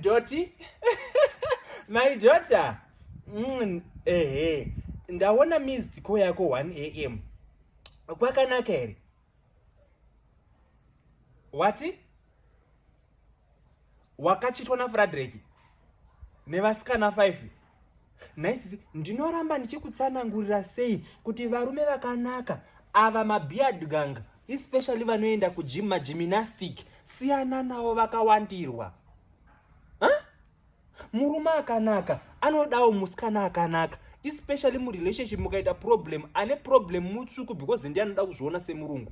doti my daughter mm, ehe ndaona missed call yako 1 am kwakanaka here wati wakachitwa nafradreki nevasikana 5 nhai sisi ndinoramba ndichikutsanangurira sei kuti varume vakanaka ava mabeard gang especially vanoenda kugym magymnastic siyana navo vakawandirwa huh? murume akanaka anodawo musikana akanaka especially murelationship mukaita problem ane problem mutsvuku because ndiye anoda kuzviona semurungu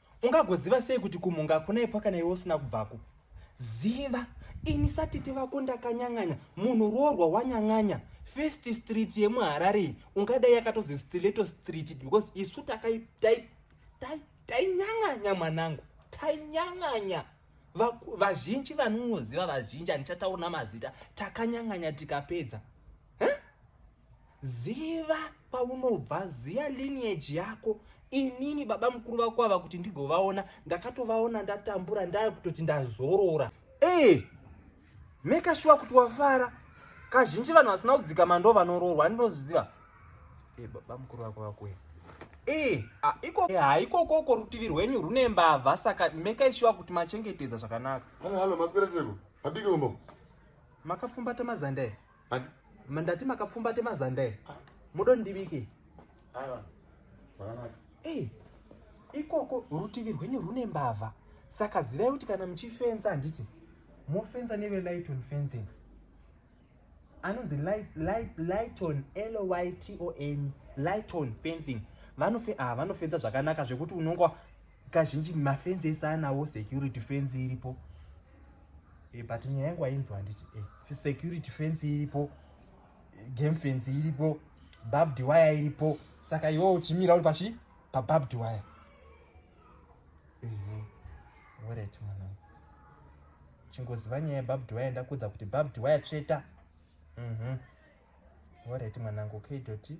Ungagoziva sei kuti kumhunga hakuna ipwa kana iwe usina kubvako? Ziva ini satete vako ndakanyang'anya munhu roorwa wanyang'anya first street yemuharare iyi ungadai yakatozi stileto street because isu tainyang'anya mwanangu tainyang'anya vazhinji vanonoziva vazhinji handichataura mazita takanyang'anya tikapedza ziva kwaunobva ziva lineage yako inini baba mukuru vako ava kuti ndigovaona ndakatovaona ndatambura ndaya kutoti ndazorora ee eh, meka shuwa kuti wafara kazhinji vanhu vasina kudzikama ndo vanoroorwa ndinozviziva e eh, baba mukuru vako vakuya ee eh, ah, iko haikokoko rutivi rwenyu rune mbavha saka meka ishuwa kuti machengetedza zvakanaka halo halo mapera seko madiki umbo makapfumbata mazanda e Asi mandati makapfumbate mazanda e. Ah. Mudo ndibike. Aiwa. Zvakanaka. Eh. Ikoko rutivi rwenyu rune mbavha. Saka zivai kuti kana muchifenza handiti mofenza neve light on fencing. Anonzi light light light on L Y T O N light on fencing. Vanofe ah vanofenza zvakanaka zvekuti unonga kazhinji mafenzi ese anawo security fenzi iripo e, but nyaya yangu ainzwa handiti e, eh, security fenzi iripo game fenzi iripo babd waya iripo saka iwo uchimira uri pachi pababd waya mhm. orit mwana chingoziva nyaya yebabd waya ndakudza kuti babd waya tsveta orit mhm. mwanangu kdoti